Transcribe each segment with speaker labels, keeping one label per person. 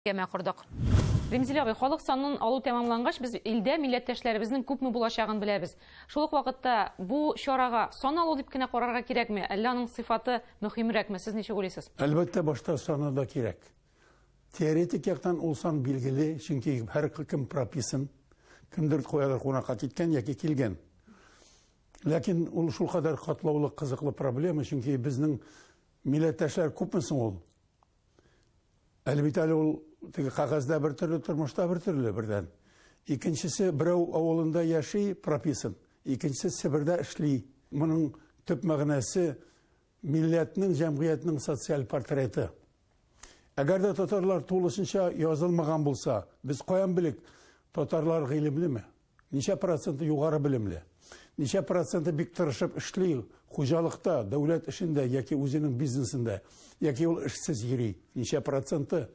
Speaker 1: Кәмә кордык. Римзил абый, халык санын алу тәмамлангач, без илдә милләттәшләребезнең күпме булачагын беләбез. Шул ук вакытта бу чарага сан алу дип кенә карарга кирәкме, әллә аның сыйфаты мөһимрәкме, сез ничек уйлыйсыз? Әлбәттә, башта саны
Speaker 2: да кирәк. Теоретик яктан ул сан билгеле, чөнки һәркем прописан, кемдер каядыр кунакка киткән яки килгән. Ләкин ул шулкадәр катлаулы, кызыклы проблема, чөнки безнең милләттәшләр күпме соң ул? Әле бит әле ул теге кагазьдә бер төрле, тормышта бер төрле бердән. Икенчесе берәү авылында яши, прописан, икенчесе Себердә эшли. Моның төп мәгънәсе милләтнең, җәмгыятьнең социаль портреты. Әгәр дә татарлар тулысынча язылмаган булса, без каян белик, татарлар гыйлемлеме? Ничә проценты югары белемле? Ничә проценты бик тырышып эшли хуҗалыкта, дәүләт эшендә яки үзенең бизнесында? Яки ул эшсез йөри? Ничә проценты?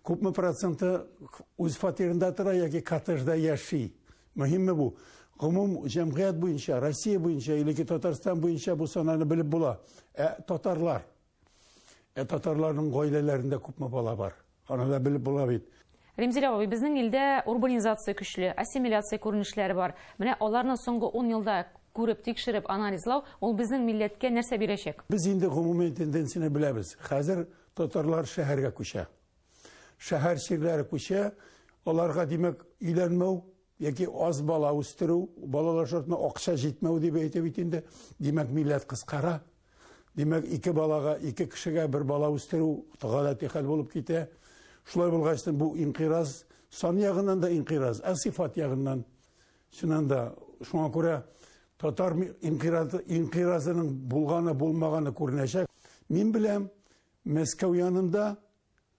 Speaker 2: Күпме проценты үз фатирында тора яки коттеджда яши? Мөһимме бу? Гомум җәмгыять буенча, Россия буенча, или Татарстан буенча бу сананы белеп була. Ә татарлар? Ә татарларның гаиләләрендә күпме бала бар? Аны да белеп була бит. Римзилә абый, безнең
Speaker 1: илдә урбанизация көчле, ассимиляция күренешләре бар. Менә аларны соңгы ун елда күреп, тикшереп, анализлау, ул безнең милләткә нәрсә бирәчәк? Без инде гомуми
Speaker 2: тенденцияне беләбез. Хәзер татарлар шәһәргә күчә. Шәһәр чирләре күчә, аларга, димәк, өйләнмәү Яки аз бала үстерү, балалар шартына акча җитмәү дип әйтә бит инде. Димәк, милләт кыскара. Димәк, ике балага, ике кешегә бер бала үстерү гадәти хәл булып китә. Шулай булгач, бу инкыйраз сан ягыннан да инкыйраз, ә сыйфат ягыннан. Чыннан да, шуңа күрә татар инкыйразы, инкыйразының булганы, булмаганы күренәчәк. Мин беләм, Мәскәү янында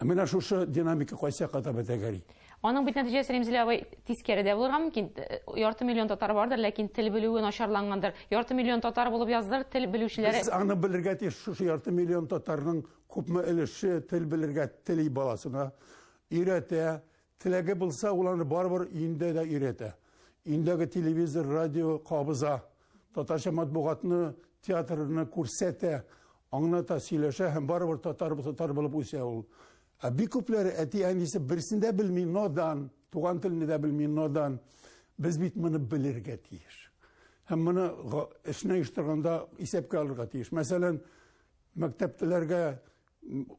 Speaker 2: Ә менә шушы динамика кайсы кадәр бетәгәри? Аның бит нәтиҗәсе
Speaker 1: Римзилә абый тискәре дә булырга мөмкин. Ярты миллион татар бардыр, ләкин тел белүе начарлангандыр. Ярты миллион татар булып яздыр, тел белүчеләр. Без аны белергә тиеш,
Speaker 2: шушы ярты миллион татарның күпме өлеше тел белергә тели баласына, өйрәтә, Теләге булса, ул аны барыбер өендә дә өйрәтә. Өендәге телевизор, радио кабыза, татарча матбугатны, театрны күрсәтә, аңлата, сөйләшә һәм барыбер татар татар булып үсә ул. Ә бик күпләре әти-әнисе берсен дә белми, надан, туган телне дә белми, надан. Без бит моны белергә тиеш. Һәм моны эшне оештырганда исәпкә алырга тиеш. Мәсәлән, мәктәптәләргә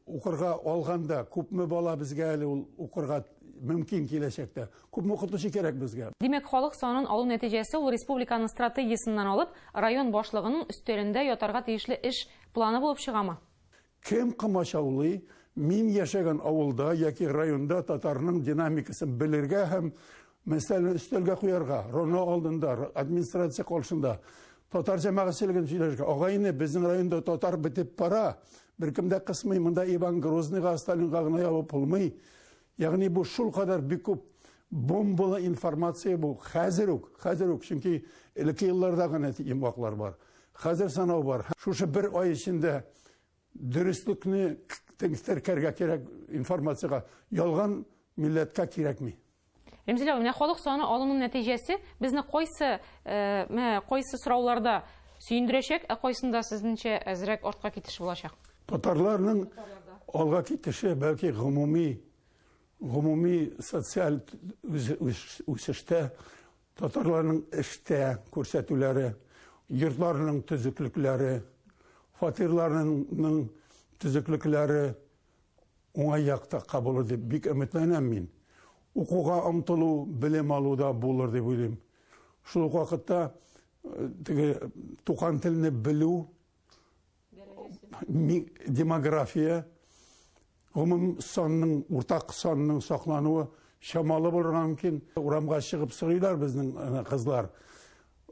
Speaker 2: укырга алганда күпме бала безгә әле ул укырга мөмкин киләчәктә? Күпме укытучы кирәк безгә? Димәк, халык санын
Speaker 1: алу нәтиҗәсе ул республиканың стратегиясеннән алып, район башлыгының өстәлендә ятарга тиешле эш планы булып чыгамы? Кем
Speaker 2: комачаулый, мин яшәгән авылда яки районда татарның динамикасын белергә һәм Мәсьәләне өстәлгә куярга, РОНО алдында, администрация каршында татар җәмәгатьчелеген сөйләшергә. Агайны безнең районда татар бетеп пара. Беркем дә кысмый, монда Иван Грозныйга, Сталинга гына ябып булмый. Ягъни бу шул кадәр бик күп бомбалы информация бу. Хәзер үк, хәзер үк, чөнки элекке еллардагы нәти йомгаклар бар. Хәзер санау бар. Шушы бер ай эчендә Дөреслекне теркәргә кирәк информациягә. Ялган милләткә кирәкми. Ремзилә, менә
Speaker 1: халык саны алыну нәтиҗәсе безне кайсы, менә кайсы сорауларда сөендерәчәк, ә кайсында сезнеңчә әзрәк артка китеш булачак? Татарларның
Speaker 2: алга китеше бәлки гомуми гомуми социаль үсештә Татарларның эштә күрсәтүләре, йортларының төзеклекләре, фатирларының төзеклекләре уңай якта кабулыр дип бик өметләнәм мин. Укуга омтылу, белем алу да булыр дип уйлыйм. Шул ук вакытта э, теге туган телне белү демография гомум санның уртак санның саклануы чамалы булырга мөмкин урамга чыгып сорыйлар безнең кызлар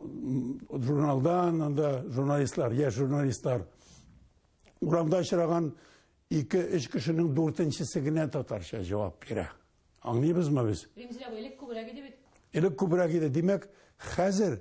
Speaker 2: журналдан анда журналистлар яшь журналистлар урамда очраган ике өч кешенең дүртенчесе генә татарча җавап бирә
Speaker 1: аңлыйбызмы
Speaker 2: без
Speaker 1: элек күбрәк
Speaker 2: иде бит элек
Speaker 1: күбрәк иде димәк
Speaker 2: хәзер